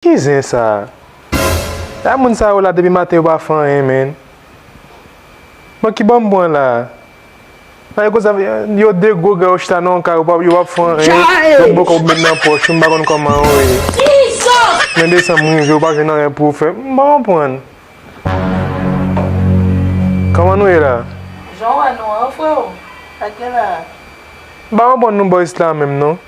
Ki zen sa? Sa moun sa yo la depi maten yo pa fè anyen menn. Bon ki bò m pran la? Sa yo konsa yo de gwo gran yo chita nan yon kay yo pa yo pap fè anyen yon bòkò pou met nan pòch ou m pa konn kòman yo ye. Nan desanm m rive ou pa jwenn anyen pou fè m pa konprann. Kòman nou ye la? Jan w wè nou an freo? Sa k gen la a? M pa konprann nou boys la menm non.